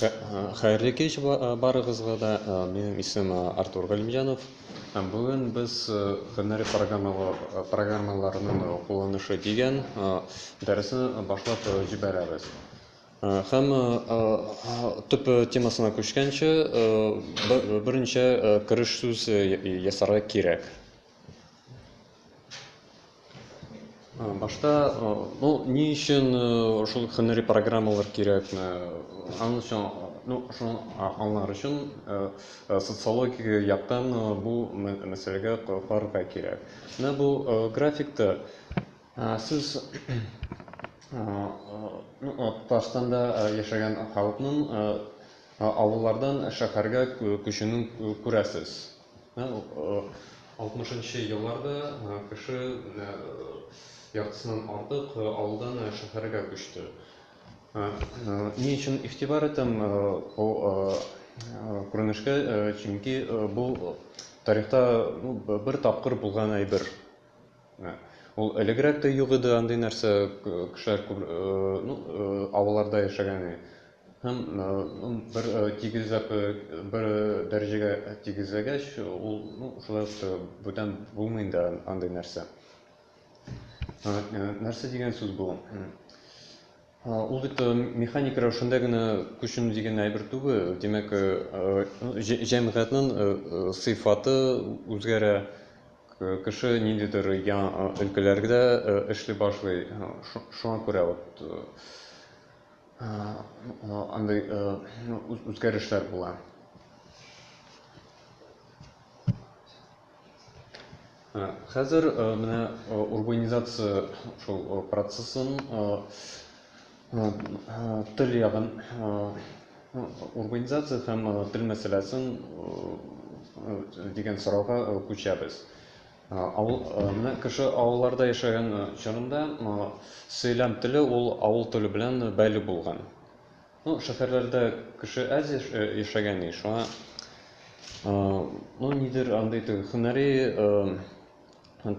Хәерле кич барыгызга да. Минем исем Артур Галимҗанов. Һәм бүген без һөнәри программаларның кулланышы дигән дәресне башлап җибәрәбез. Һәм төп темасына күчкәнче, беренче кереш сүз ясарга кирәк. Башта ну ни өчен шул һөнәри программалар кирәкме? Аның өчен ну шуны аңлар өчен социологик яктан бу мәсьәләгә карарга кирәк. Менә бу графикта сез ну Татарстанда яшәгән халыкның авыллардан шәһәргә күчүен күрәсез. Менә алтмышынчы елларда кеше яртысыннан артык авылдан шәһәргә күчте. Ни өчен игътибар итәм бу күренешкә, чөнки бу тарихта бер тапкыр булган әйбер. Ә. Ул элегрәк тә юк иде андый нәрсә, кешеләр күп, ну, авылларда яшәгән иде. Һәм бер тигезләп бер дәрәҗәгә тигезләгәч, ул, ну, шулай ук та бүтән булмый инде андый нәрсә. Нәрсә дигән сүз бу? Ул бит механик рәвешендә генә күченү дигән әйбер түгел. Димәк, җәмгыятьнең сыйфаты үзгәрә, кеше ниндидер яңа өлкәләрдә эшли башлый. Шуңа күрә вот андый үзгәрешләр була. Хәзер менә урбанизация шул процессын тел ягын урбанизация һәм тел мәсьәләсен дигән сорауга күчәбез. Авыл менә кеше авылларда яшәгән чорында сөйләм теле ул авыл теле белән бәйле булган. Ну шәһәрләрдә кеше әз яшәгән ди шуңа ну нидер андый теге һөнәри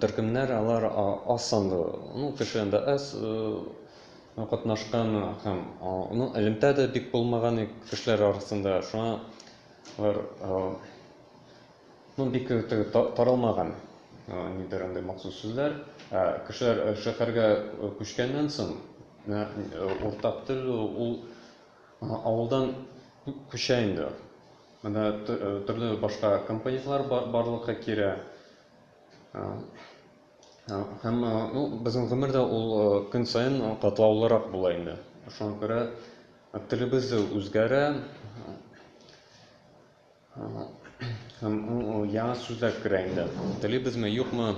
төркемнәр алар аз санлы ну кеше анда әз катнашкан һәм ну элемтә дә бик булмаган кешеләр арасында шуңа алар Ну бик теге таралмаган нидер андый махсус сүзләр. Ә кешеләр шәһәргә күчкәннән соң уртак тел ул авылдан күчә инде. Монда төрле башка компонентлар барлыкка килә. Һәм ну безнең гомер дә ул көн саен катлаулырак була инде. Шуңа күрә телебез дә үзгәрә. Һәм ул яңа сүзләр керә инде. Телибезме, юкмы,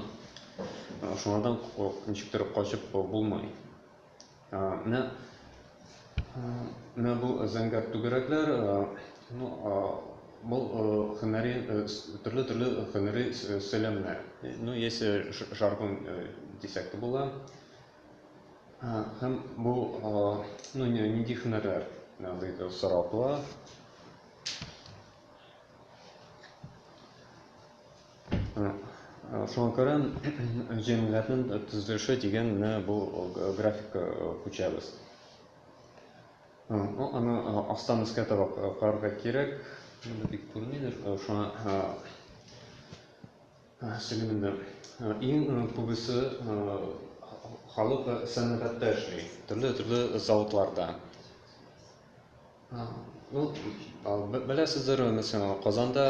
шуңардан ничектер качып булмый. Менә менә бу зәңгәр түгәрәкләр, ну, бу һөнәри төрле-төрле һөнәри сөйләмнәр. Ну, яисә жаргон дисәк тә була. Һәм бу, ну, нинди һөнәрләр дип сорау туа. Шуңа күрә җәмгыятьнең төзелеше дигән менә бу графика күчәбез. Аны астан өскә таба карарга кирәк. Шунда бик күренмидер. Шуңа сөйлим инде. Иң күбесе халык сәнгатьтә эшли, төрле-төрле заводларда. Ул беләсездер, мәсәлән, Казанда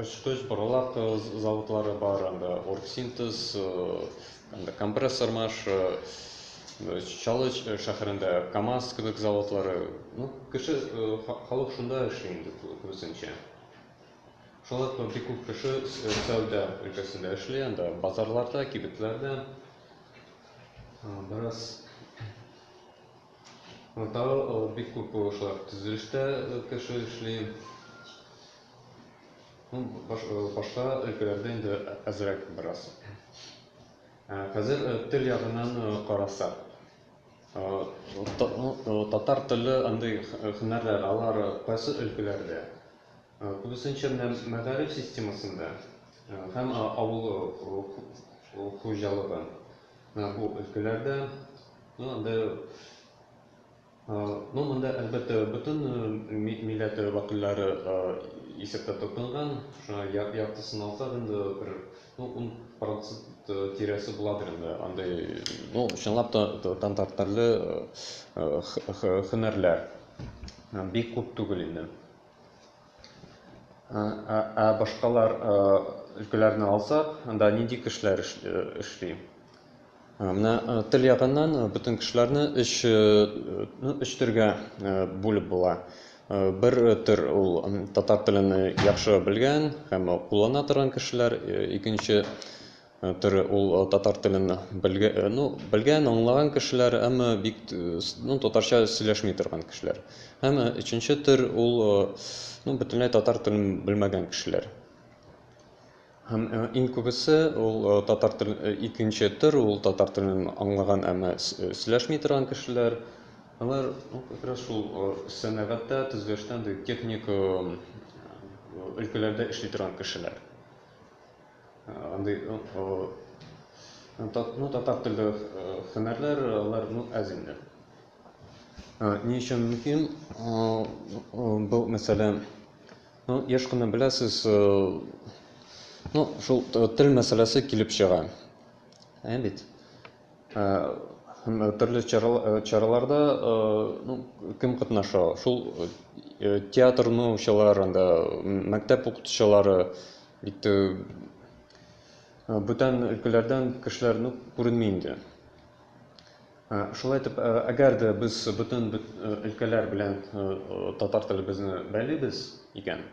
очкыч боралак заводлары бар, анда оргсинтез, анда компрессор маш, Чаллы шәһәрендә КАМАЗ кебек заводлары. Ну, кеше халык шунда эшли инде күбесенчә. Шулай ук бик күп кеше сәүдә өлкәсендә эшли, анда базарларда, кибетләрдә. Бераз Монда бик күп шулай төзелештә кеше эшли. Башка өлкәләрдә инде әзрәк бераз. Хәзер тел ягыннан карасак, татар теле андый һөнәрләр, алар кайсы өлкәләрдә? Күбесенчә менә мәгариф системасында һәм авыл хуҗалыгы менә бу өлкәләрдә, ну анда, ну монда әлбәттә бөтен милләт вәкилләре исәптә тотынган, шуңа яртысын алсак инде бер ну ун процент тирәсе буладыр инде андый, ну чынлап та татар телле һөнәрләр бик күп түгел инде. Ә башкалар өлкәләрне алсак, анда нинди кешеләр эшли? Менә тел ягыннан бөтен кешеләрне өч ну, өч төргә бүлеп була. Бер төр ул татар телен яхшы белгән һәм куллана торган кешеләр, икенче Тере ул татар телен белгә, ну, белгән, аңлаган кешеләр, әмма бик, ну, татарча сөйләшми торган кешеләр. Һәм өченче төр ул, ну, бөтенләй татар телен белмәгән кешеләр. Һәм иң күбесе ул татар тел, икенче төр ул татар телен аңлаган, әмма сөйләшми торган кешеләр. Алар как раз шул сәнәгатьтә, төзелештә, техник өлкәләрдә эшли торган кешеләр. Андый ну татар телле һөнәрләр алар ну әз инде. Ни өчен мөһим бу мәсьәлә? Ну, еш кына беләсез, ну, шул тел мәсьәләсе килеп чыга. Ә бит. Төрле чараларда ну, кем катнаша? Шул театр ну, чаларында, мәктәп укытучылары, Бит бүтән өлкәләрдән кешеләр ну күренми инде. Шулай итеп, әгәр дә без бүтән өлкәләр белән татар телебезне бәйлибез икән,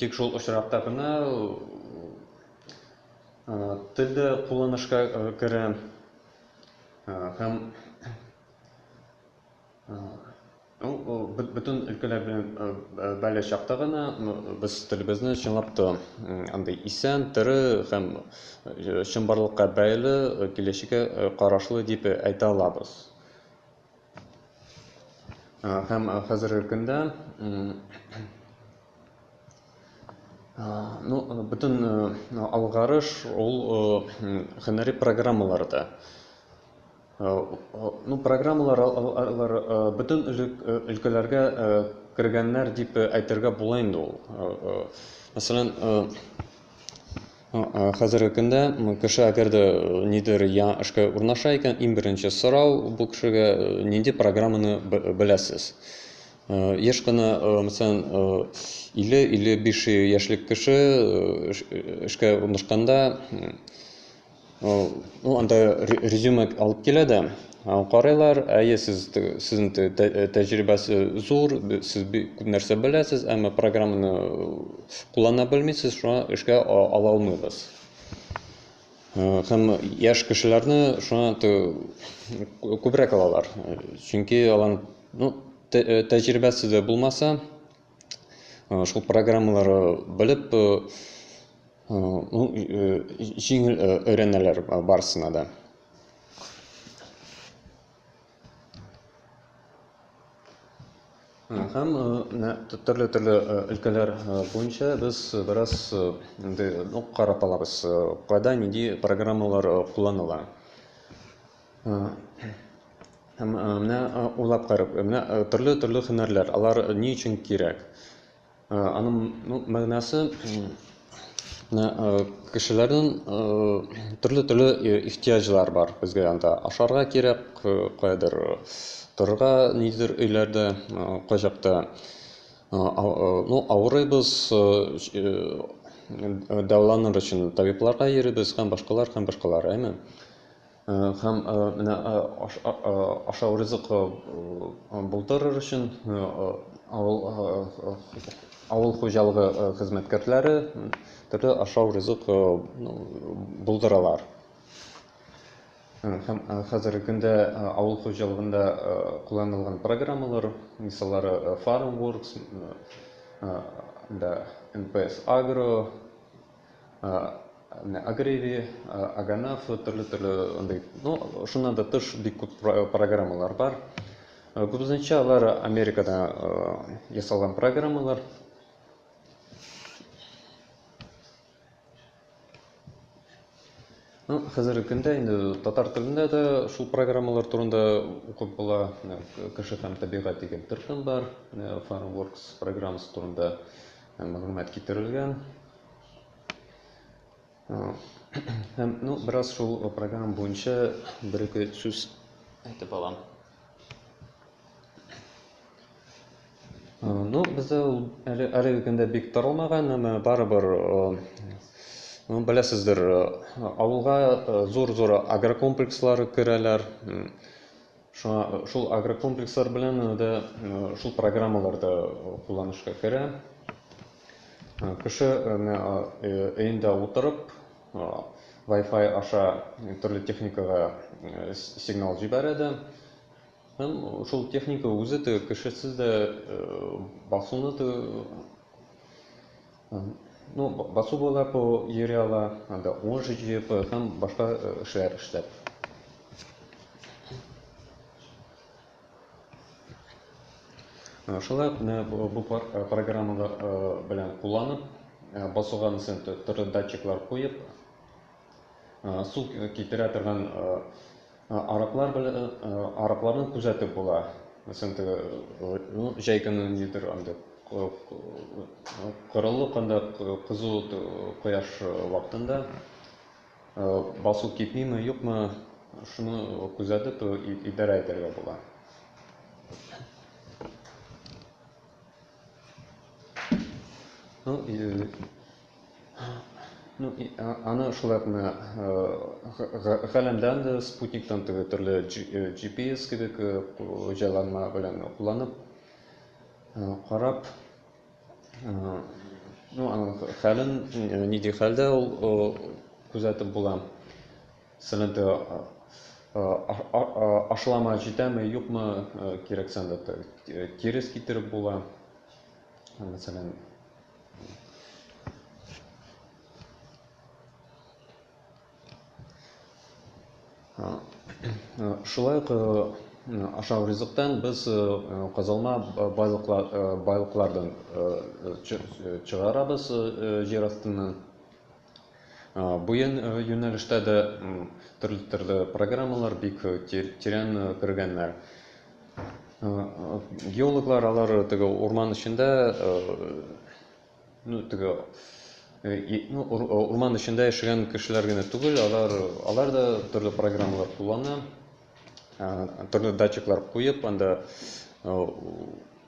тик шул очракта гына тел дә кулланышка керә һәм Ул бөтен өлкәләр белән бәйле чакта гына без телебезне чынлап та андый исән, тере һәм чынбарлыкка бәйле, киләчәккә карашлы дип әйтә алабыз. Һәм хәзерге көндә ну бөтен алгарыш ул һөнәри программаларда. Ну программалар алар бөтен өлкәләргә кергәннәр дип әйтергә була инде ул. Мәсәлән, хәзерге көндә кеше әгәр дә нидер я эшкә урнаша икән, иң беренче сорау бу кешегә нинди программаны беләсез? Еш кына, мәсәлән, 50-55 яшьлек кеше эшкә урнашканда, Ну, анда резюме алып килә дә, карыйлар, әйе, сез сезнең тәҗрибәс зур, сез күп нәрсә беләсез, әмма программаны куллана белмисез, шуңа эшкә ала алмыйбыз. Һәм яшь кешеләрне шуңа күбрәк алалар, чөнки алар, ну, тәҗрибәсе дә булмаса, шул программалары белеп җиңел өйрәнәләр барысына да һәм төрле төрле өлкәләр буенча без бераз инде карап алабыз кайда нинди программалар кулланыла Һәм менә уйлап карап, менә төрле-төрле һөнәрләр, алар ни өчен кирәк? Аның мәгънәсе менә кешеләрнең төрле-төрле ихтыяҗлар бар безгә анда. Ашарга кирәк, каядыр торырга нидер өйләрдә, кайчакта ну авырыйбыз, дәваланыр өчен табибларга йөрибез һәм башкалар һәм башкалар, әйме? Һәм менә ашау ризыкы булдырыр өчен авыл хуҗалыгы хезмәткәрләре төрле ашау ризык булдыралар. Һәм хәзерге көндә авыл хуҗалыгында кулланылган программалар мисаллары Farmworks, НПС Агро, Менә Агреви, Аганаф, төрле-төрле андый, ну, шуннан да тыш бик күп программалар бар. Күбесенчә алар Америкада ясалган программалар. Ну, хәзерге көндә инде татар телендә дә шул программалар турында укып була. Кеше һәм табигать дигән төркем бар, Farmworks программасы турында. Мәгълүмат китерелгән. Һәм, ну, бераз шул программа буенча бер-ике сүз әйтеп алам. Ну, бездә ул әле әлеге көндә бик таралмаган, әмма барыбер ну, беләсездер, авылга зур-зур агрокомплекслар керәләр. Шуңа шул агрокомплекслар белән дә шул программалар да кулланышка керә. Кеше өендә утырып, Wi-Fi аша төрле техникага сигнал җибәрә дә, һәм шул техника үзе дә кешесез дә басуны Ну басу буйлап йөри ала, анда унжи җыеп һәм башка эшләр эшләп. Шулай ук менә бу программалар белән кулланып, басуга мисен төрле датчиклар куеп, су китерә торган Араклар белән аракларны күзәтеп була. Мәсәлән, теге ну, җәй көне нидер анда корылык анда кызу кояш вакытында басу китмиме, юкмы, шуны күзәтеп идарә итәргә була. Ну, Ну, и, а, аны шулай ук менә галәмдән дә, спутниктан теге төрле GPS кебек җайланма белән кулланып, карап, ну, аның хәлен, нинди хәлдә ул күзәтеп була. Сәләнтә ашлама җитәме, юкмы, кирәксәндә терес китереп була. Мәсәлән, Шулай ук ашау ризыктан без казалма байлыклардан чыгарабыз җир астыннан. Бу юнәлештә дә төрле-төрле программалар бик тирән кергәннәр. Геологлар алар теге урман эчендә, ну, теге ну, урман эчендә яшәгән кешеләр генә түгел, алар, алар да төрле программалар куллана, төрле датчиклар куеп, анда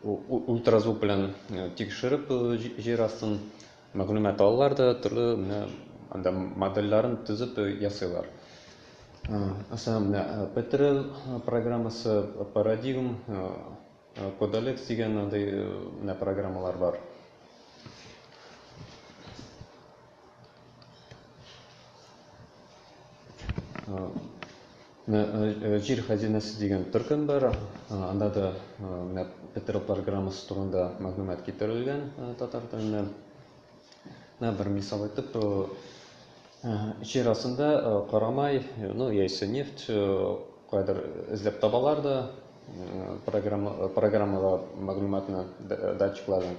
ультразвук белән тикшереп җир астын Мәгълүмат алалар да төрле менә анда модельләрен төзеп ясыйлар. Аса менә Petrel программасы, Paradigm, Codalex дигән андый менә программалар бар. Менә Җир хәзинәсе дигән төркем бар. Анда да менә Петров программасы турында мәгълүмат китерелгән татар телендә. Менә бер мисал итеп, җир астында карамай, ну, яисә нефть кайдыр эзләп табалар да, программага мәгълүматны датчиклардан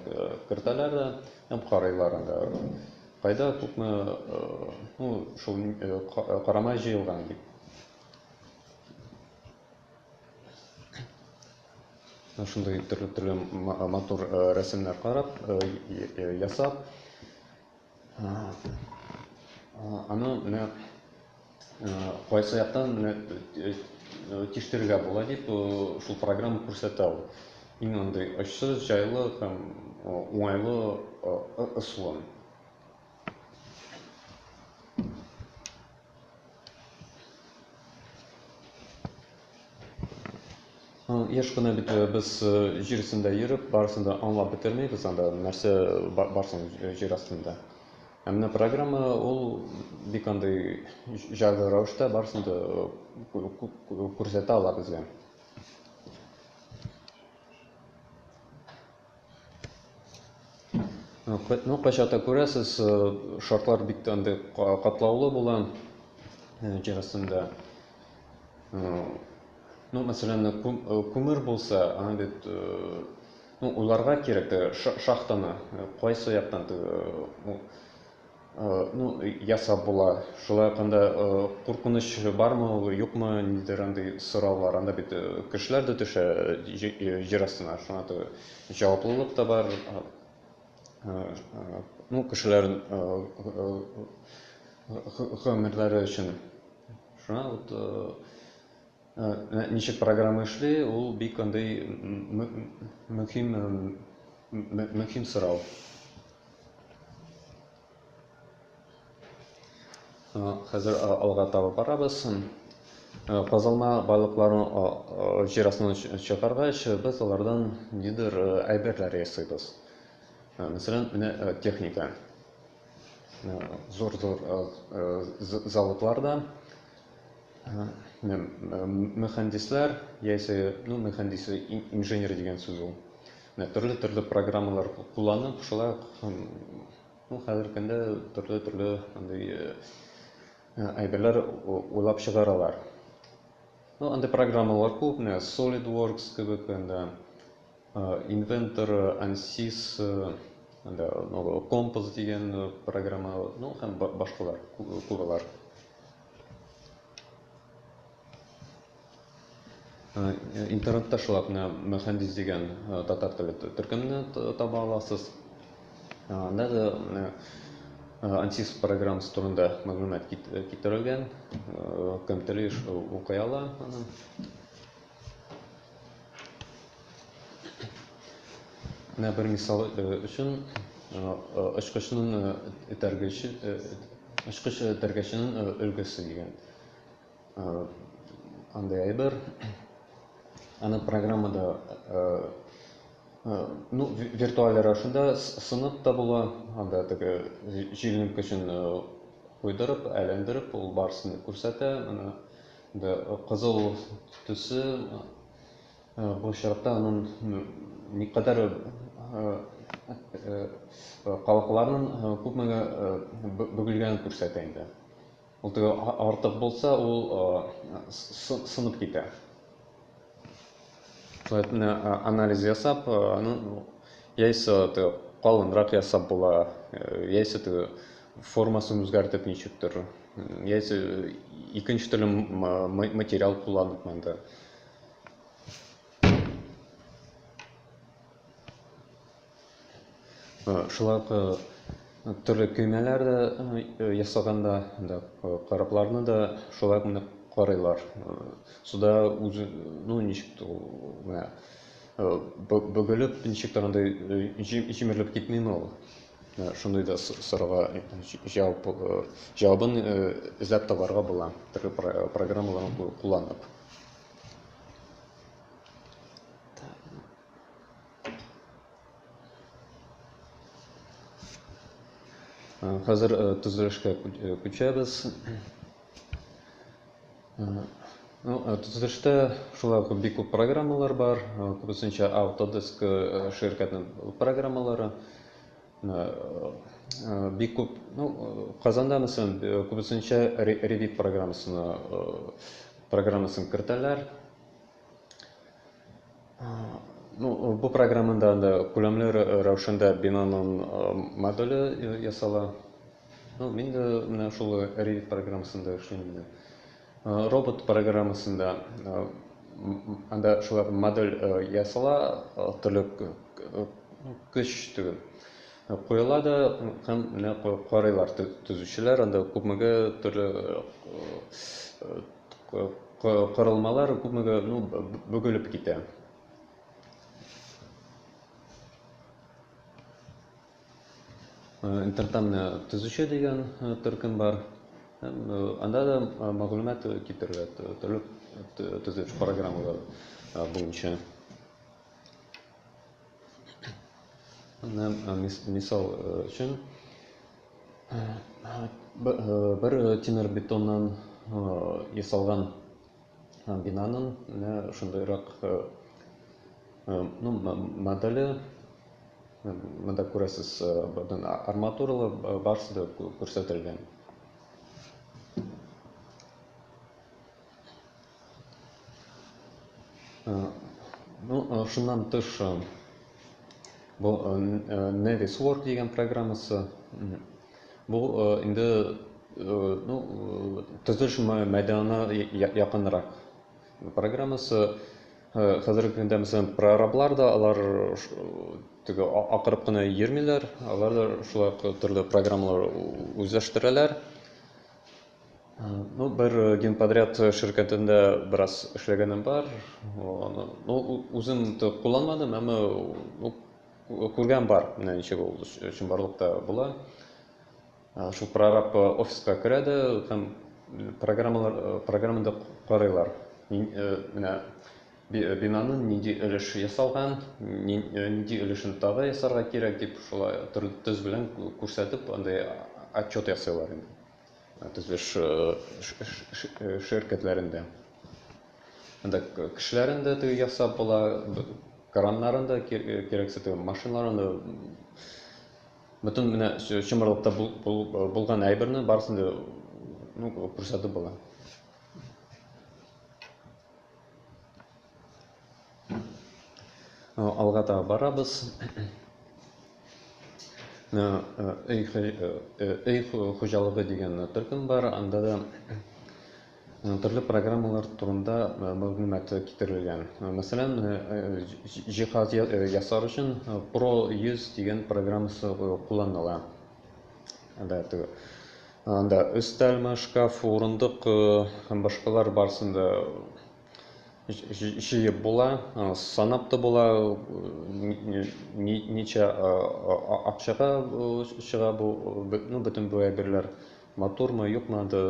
кертәләр дә һәм карыйлар анда. Кайда тукны, ну, шул карамай җыелган бит. Менә шундый төрле-төрле матур рәсемнәр карап, ясап. Аны менә Кайсы яктан тиштерергә була дип шул программа күрсәтә ул. Иң андый очсыз, җайлы һәм уңайлы ысулын. Еш кына бит без җир өстендә йөреп, барысын да аңлап бетермибез анда, нәрсә барсын җир астында. Ә менә программа ул бик андый җайлы рәвештә барысын да күрсәтә ала безгә. Ну, кайчакта күрәсез, шартлар бик тә андый катлаулы була җир астында. Ну, мәсәлән, күмер булса, аны бит Ну уйларга кирәк тә шахтаны кайсы яктан ну ясап була, шулай ук анда куркыныч бармы ул юкмы, нидер андый сораулар, анда бит кешеләр дә төшә җир астына, шуңа да җаваплылык та бар, ну кешеләр гомерләре өчен, шуңа вот. Ничек программа эшли, ул бик андый мөһим мөһим сорау. Хәзер алга таба барабыз. Казылма балыкларын җир астыннан чыгаргач, без алардан нидер әйберләр ясыйбыз. Мәсәлән, менә техника. зур-зур заводларда мөхәндисләр яисә мөхәндис инженер дигән сүз ул төрле-төрле программалар кулланып шулай ук ну хәзерге көндә төрле-төрле андый әйберләр уйлап чыгаралар ну андый программалар күп менә SolidWorks кебек анда Inventor, Ansys, анда Composs дигән программа, ну һәм башкалар куралар. Интернетта шулай менә Мөхәндис дигән татар теле төркемне таба аласыз. Анда да менә Ansys программасы турында мәгълүмат китерелгән. Кем тели, укый ала аны. Менә бер мисал өчен очкычның этәргече очкыч этәргеченең өлгесе дигән андай әйбер. Аны программада ну, виртуаль рәвешендә сынып та була, анда теге җилнең көчен куйдырып, әйләндереп, ул барсын күрсәтә. Аны Бу кызыл төсе бу очракта аның никадәр кабыкларның күпмегә бөгелгәнен күрсәтә инде. Ул теге артык булса, ул сынып китә. анализ ясап ну яисә ты калынрак ясап була яисә ты формасын үзгәртеп ничектер яисә икенче төрле материал кулланып монда Шулай ук төрле көймәләр дә ясаганда, да корабларны да шулай гына карыйлар. Суда үзе, ну, ничек тә ул, менә бөгелеп, ничек тә андый җимерелеп китмиме ул? Шундый да сорауга җавап, җавабын эзләп табарга була, төрле программаларны кулланып. Хәзер төзелешкә күчәбез. Төзелештә шулай ук бик күп программалар бар. Күбесенчә Autodesk ширкәтенең программалары. Бик күп, ну, Казанда, мәсәлән, күбесенчә Revit программасын кертәләр. Ну, бу программада анда күләмле рәвешендә бинаның моделе ясала. Ну, мин дә менә шул Revit программасында эшлим инде. Робот программасында анда шулар модель ясала, төрле көч түгел. Куела да һәм менә карыйлар төзүчеләр анда күпмегә төрле Корылмалар күпмегә ну бөгелеп китә. Интертан төзүче дигән төркем бар. Анда да мәгълүмат китерелә төрле төзү программалары буенча. Мисал өчен, бер тимер бетоннан ясалган бинаның менә шундыйрак ну моделе монда күрәсез бүтән арматуралы барсы да күрсәтелгән. Ну, шуннан тыш бу Nevis Work дигән программасы. Бу инде ну, төзелеш мәйданына якынрак программасы. Хәзерге көндә, мәсәлән, прораблар да алар теге акырып кына йөрмиләр, алар да шулай ук төрле программалар үзләштерәләр. Ну, бер э, генподряд э, ширкәтендә бераз эшләгәнем бар. Аны, ну, үзем кулланмадым, әмма ну, күргән бар, менә ничек ул чынбарлыкта була. Шул прораб э, офиска керә дә һәм программалар программада карыйлар. Менә бинаны нинди өлеш ясалган, нинди өлешен тагы ясарга кирәк дип шулай төрле төз белән күрсәтеп андай отчет ясыйлар инде. төзелеш ширкәтләрендә. Анда кешеләрен дә теге ясап була, краннарын да кирәксә теге машиналарын да бөтен менә чымырлыкта булган әйберне барысын да ну күрсәтеп була. Алга таба барабыз. Өй өй хуҗалыгы дигән төркем бар. Анда да төрле программалар турында мәгълүмат китерелгән. Мәсәлән, җиһаз ясар өчен Pro 100 дигән программасы кулланыла. Анда Анда өстәлме, шкаф, урындык һәм башкалар барсын да җыеп була, санап та була, ничә акчага чыга бу, ну, бөтен бу әйберләр матурмы, юкмы, анда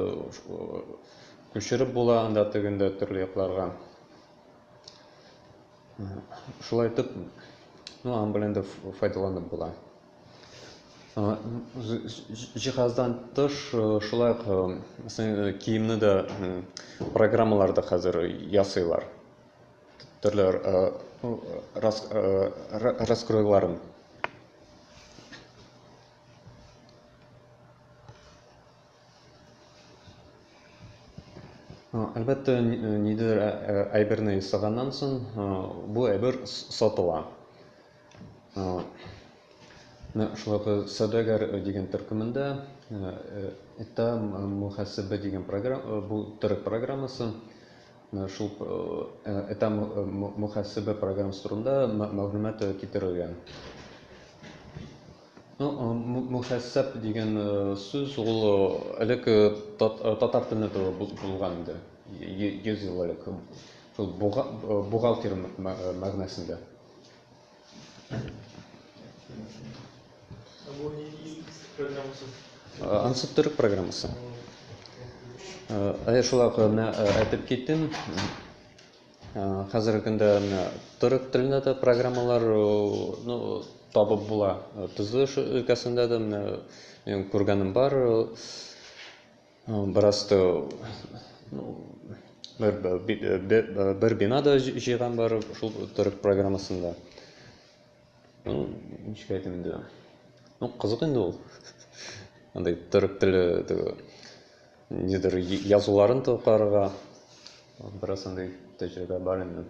күчереп була анда тегендә төрле якларга. Шулай итеп, ну, аның белән дә файдаланып була. Җиһаздан тыш, шулай ук киемне дә программаларда хәзер ясыйлар. Төрле раскройларын. Әлбәттә, нидер әйберне ясаганнан соң, бу әйбер сатыла. Менә шулай ук Сәүдәгәр дигән төркемендә Эта мөхәсәбә дигән программа, бу төрек программасы. Менә шул Эта мөхәсәбә программасы турында мәгълүмат китерелгән. Ну, мөхәсәб дигән сүз ул элек татар телендә дә булган инде. 100 ел элек. Шул бухгалтер мәгънәсендә. Ансы төрек программасы. Әйе, шулай ук менә әйтеп киттем. Хәзерге көндә менә төрек телендә дә программалар ну, табып була. Төзелеш өлкәсендә дә менә күргәнем бар. Бераз то бер бина да җыйган бар шул төрек программасында. Ну, ничек әйтим инде. Ну, кызык инде ул. Андый төрек теле теге нидер язуларын тукарга бераз андый тәҗрибә бар инде.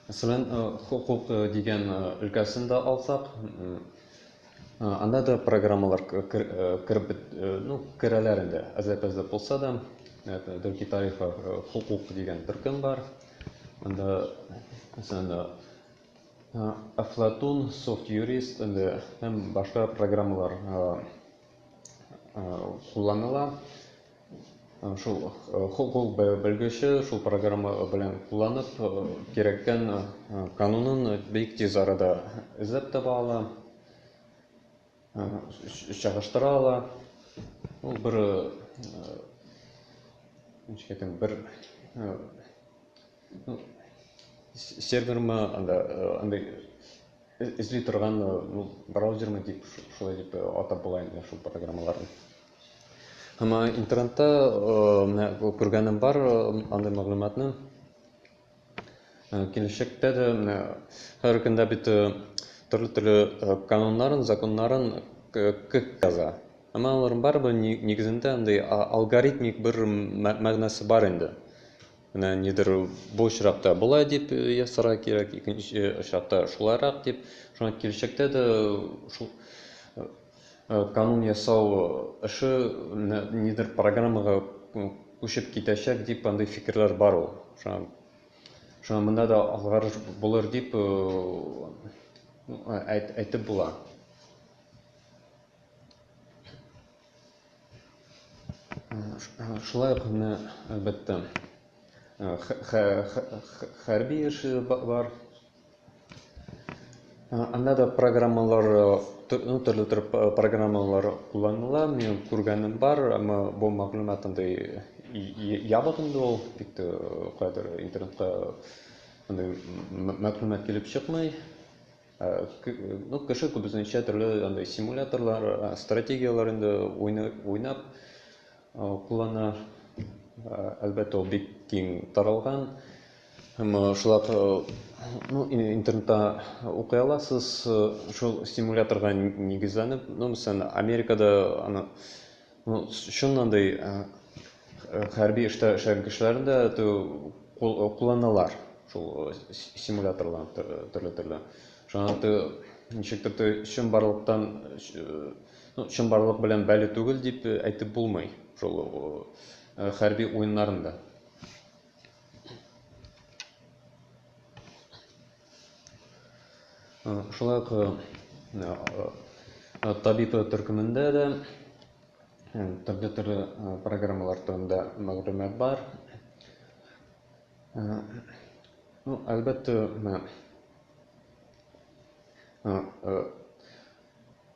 Мәсәлән, хокук дигән өлкәсен дә алсак, анда да программалар кереп ну, керәләр инде. Әзләп-әзләп булса да, Дөрки тарихы хокук дигән төркем бар. Анда, мәсәлән, Афлатун, софт юрист, инде һәм башка программалар кулланыла. Шул хокук белгече шул программа белән кулланып, кирәккән канунын бик тиз арада эзләп таба ала, чагыштыра ала. Ул бер, ничек әйтим, бер сервермы, анда андый эзли торган браузермы дип, шулай дип атап була инде шул программаларны. Һәм интернетта менә күргәнем бар андый мәгълүматны. Киләчәктә дә менә һәр көндә бит төрле төрле кануннарын, законнарын кек яза. Әмма аларның барыбер нигезендә андый алгоритмик бер мәгънәсе бар инде. Менә нидер бу очракта болай дип ясарга кирәк, икенче очракта шулайрак дип. Шуңа киләчәктә дә шул Канун ясау эше нидер программага күчеп китәчәк дип андый фикерләр бар ул. Шуңа шуңа монда да алгарыш булыр дип әйтеп була. Шулай ук менә әлбәттә хәрби эше бар. Анда да программалар, ну, төрле төр программалар кулланыла. Мин күргәнем бар, әмма бу мәгълүмат андый ябык инде ул, бик кайдыр интернетка андый мәгълүмат килеп чыкмый. Ну, кеше күбесенчә төрле андый симуляторлар, стратегияләр инде уйнап куллана. Әлбәттә, ул бик киң таралган. Һәм шулап ну, интернетта укый аласыз шул стимуляторга нигезләнеп, ну, мәсәлән, Америкада аны ну, чыннан да хәрби эштә эшләгән кешеләрне дә кулланалар шул стимуляторларны төрле-төрле. Шуңа ты ничектер ты чынбарлыктан ну, чынбарлык белән бәле түгел дип әйтеп булмый шул хәрби уеннарында. Шулай ук табиб төркемендә дә төрле төрле программалар турында мәгълүмат бар. Ну, әлбәттә,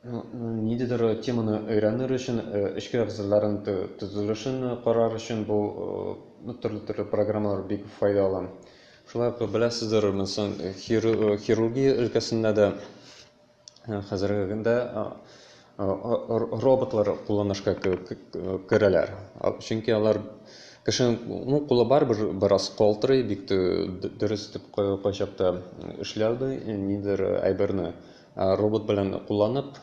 Ниндидер теманы өйрәнер өчен, эчке әгъзаларын төзелешен карар өчен бу төрле-төрле программалар бик файдалы. Шулай ук беләсездер, мисал, хирургия өлкәсендә дә хәзерге көндә роботлар кулланышка керәләр. Чөнки алар кешенең, ну, кулы барыбер бераз калтырый, бик дөрес итеп кайчакта эшләми, ниндидер әйберне. Робот белән кулланып,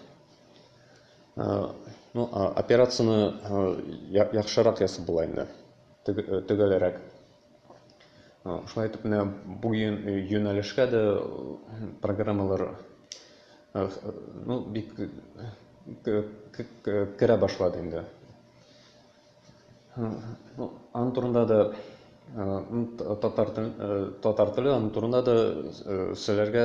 ну, операцияне яхшырак ясап була инде, төгәлрәк. Шулай итеп, менә бу юнәлешкә дә программалар ну, бик керә башлады инде. Ну, аның турында да татар тел татар теле аның турында да сөйләргә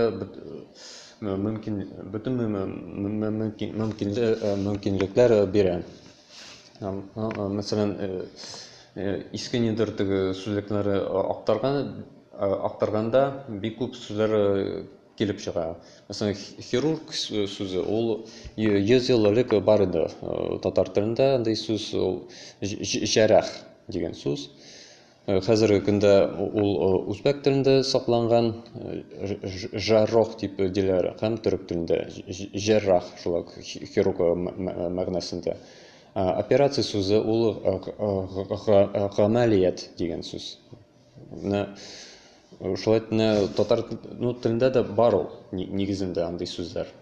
мөмкин бөтен мөмкин мөмкинлекләр бирә. Мәсәлән, иске нидер теге сүзлекләре актарган актарганда бик күп сүзләр килеп чыга. Мәсәлән, хирург сүзе ул 100 ел элек бар иде татар телендә андый сүз ул җәрәх дигән сүз. Хәзерге көндә ул үзбәк телендә сакланган жаррох дип диләр һәм төрек телендә җәррах шулай ук хирург мәгънәсендә. Операция сүзе ул гамәлият дигән сүз. Менә э, шулай менә татар ну, телендә дә бар ул нигезендә андый сүзләр.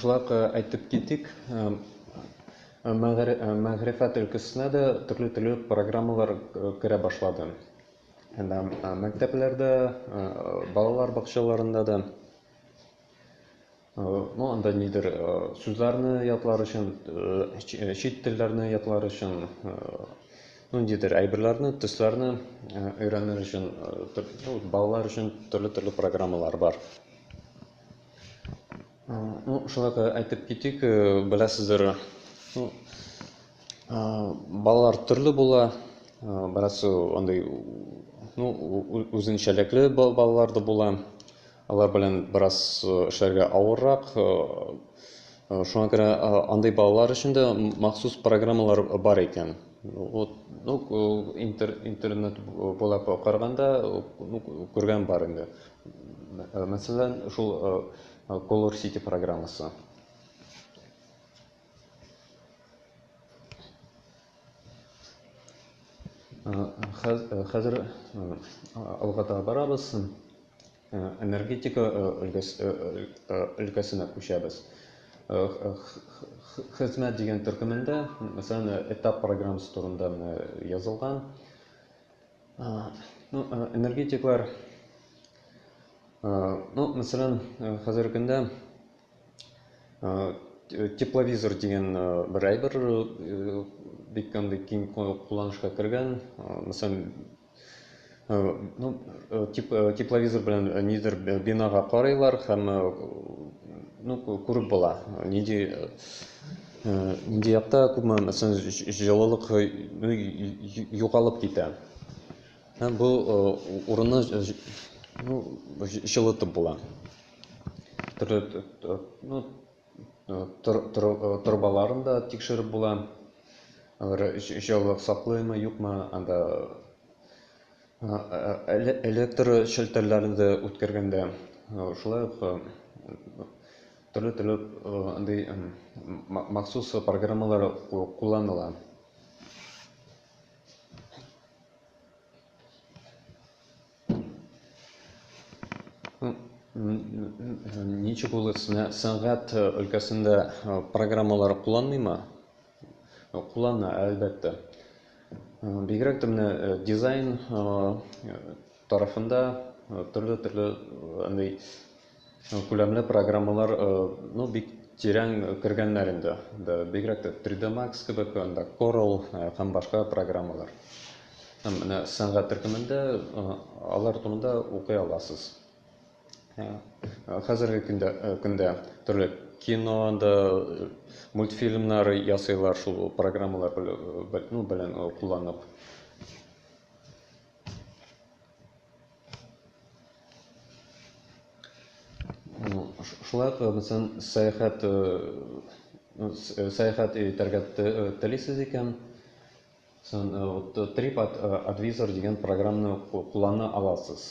Шулай ук әйтеп китик, мәгърифәт өлкәсенә дә төрле-төрле программалар керә башлады. Әнә мәктәпләрдә, балалар бакчаларында да. Ну, анда нидер сүзләрне ятлар өчен, чит телләрне ятлар өчен, ну, нидер әйберләрне, төсләрне өйрәнер өчен, балалар өчен төрле-төрле программалар бар. Ну, шулай да әйтеп китик, беләсездер, ну, балалар төрле була, бераз андый, ну, үзенчәлекле балалар да була. Алар белән бераз эшләргә авыррак. Шуңа күрә андый балалар өчен дә махсус программалар бар икән. Вот, ну, интер, интернет буйлап караганда, ну, күргән бар инде. Мәсәлән, шул Color City программасы. Хәзер алга таба барабыз. Энергетика өлкәсенә күчәбез. Хезмәт дигән төркемендә, мәсәлән, этап программасы турында язылган. Ну, энергетиклар, ну, мәсәлән, хәзерге көндә Тепловизор дигән бер әйбер бик андый киң кулланышка кергән. Мәсәлән, ну, тепловизор белән нидер бинага карыйлар һәм ну, күреп була. Нинди нинди якта күпме мәсәлән җылылык югалып китә. Һәм бу урынны ну, җылытып була. Төрле ну, торбаларын да тикшереп була. Алар җылылык саклыймы, юкмы, анда электр челтәрләрен дә үткәргәндә шулай ук төрле төрле андый махсус программалар кулланыла. Ничек ул сәнгать өлкәсендә программалар кулланмыймы? Куллана, әлбәттә. Бигрәк тә менә дизайн тарафында төрле-төрле андый Күләмле программалар ну бик тирән кергәннәр инде. Бигрәк тә 3D Max кебек, анда Corel һәм башка программалар. Һәм менә сәнгать төркемендә алар турында укый аласыз. Хәзерге көндә көндә төрле кино да мультфильмнар ясыйлар шул программалар белән, ну белән кулланып. Шулай ук бөтен сәяхәт сәяхәт итәргә телисез икән, сон Trip Advisor дигән программаны куллана аласыз.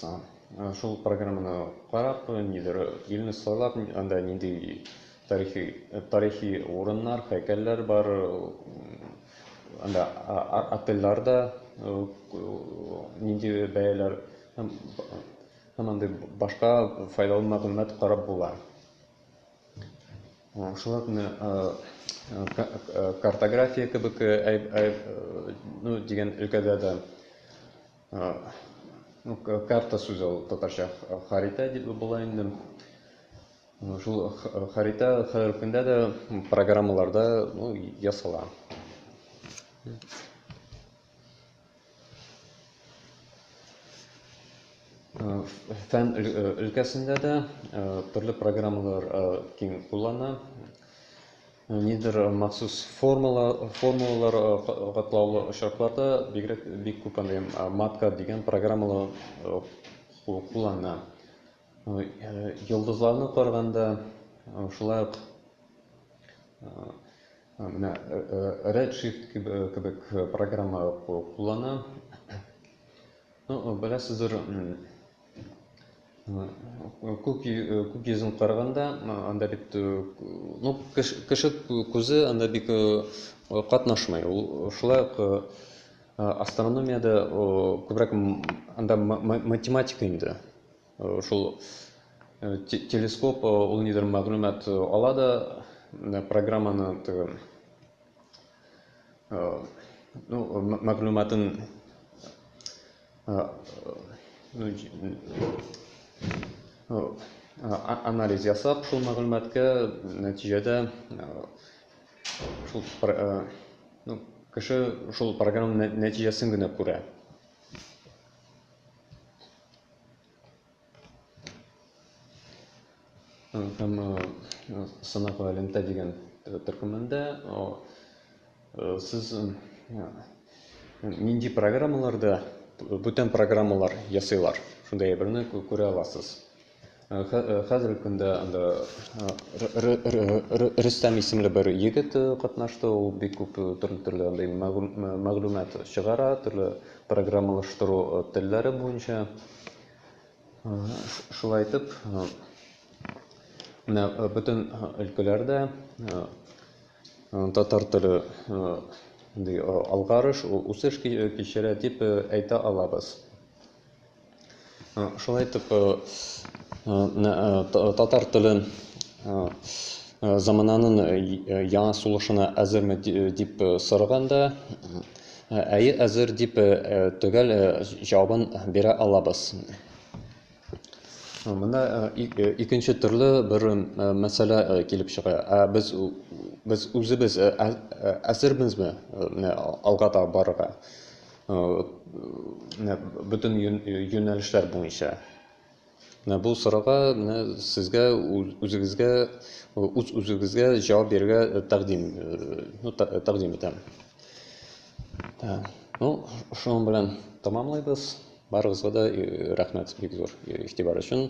Шул программаны карап, нидер илне сайлап, анда нинди Тарихи тарихи урыннар, һәйкәлләр бар. Анда отельләр дә нинди бәяләр һәм һәм андый башка файдалы мәгълүмат карап була. Шулай ук менә картография кебек ну дигән өлкәдә дә карта сүзе ул татарча харитә дип була инде. Шул харитә хәрефендә дә программаларда ну, ясала. Фән өлкәсендә дә төрле программалар киң куллана. Нидер махсус формалар, формулалар катлаулы очракларда бигрәк бик күп андый матка дигән программалар куллана. Йолдызларны карганда шулай ук менә Redshift кебек программа куллана. Ну, беләсездер, күк йөзен карганда, анда бит, ну, кеше күзе анда бик катнашмый. Ул шулай ук астрономиядә күбрәк анда математика инде. Шул телескоп ул нидер мәгълүмат ала да программаны теге ну мәгълүматын анализ ясап шул мәгълүматка нәтиҗәдә шул ну кеше шул программа нәтиҗәсен генә күрә Һәм сынау галимтә дигән төркемендә сез нинди программаларда бүтән программалар ясыйлар? Шундый әйберне күрә аласыз. Хәзерге көндә анда Рөстәм исемле бер егет катнашты, ул бик күп төрле-төрле андый мәгълүмат чыгара, төрле программалаштыру телләре буенча. Шулай итеп, менә бөтен өлкәләрдә татар теле алгарыш, үсеш кичерә дип әйтә алабыз. Шулай итеп, татар теле замананын яңа сулышына әзерме дип сораганда, әйе, әзер дип төгәл җавабын бирә алабыз. Монда икенче төрле бер мәсьәлә килеп чыга. Ә без без үзебез әзербезме алга таба барырга? Менә бөтен юнәлешләр буенча. Менә бу сорауга менә сезгә үзегезгә үз үзегезгә җавап бирергә тәкъдим ну тәкъдим итәм. Ну, шуның белән тәмамлыйбыз. Барыгызга да рәхмәт бик зур игътибар өчен.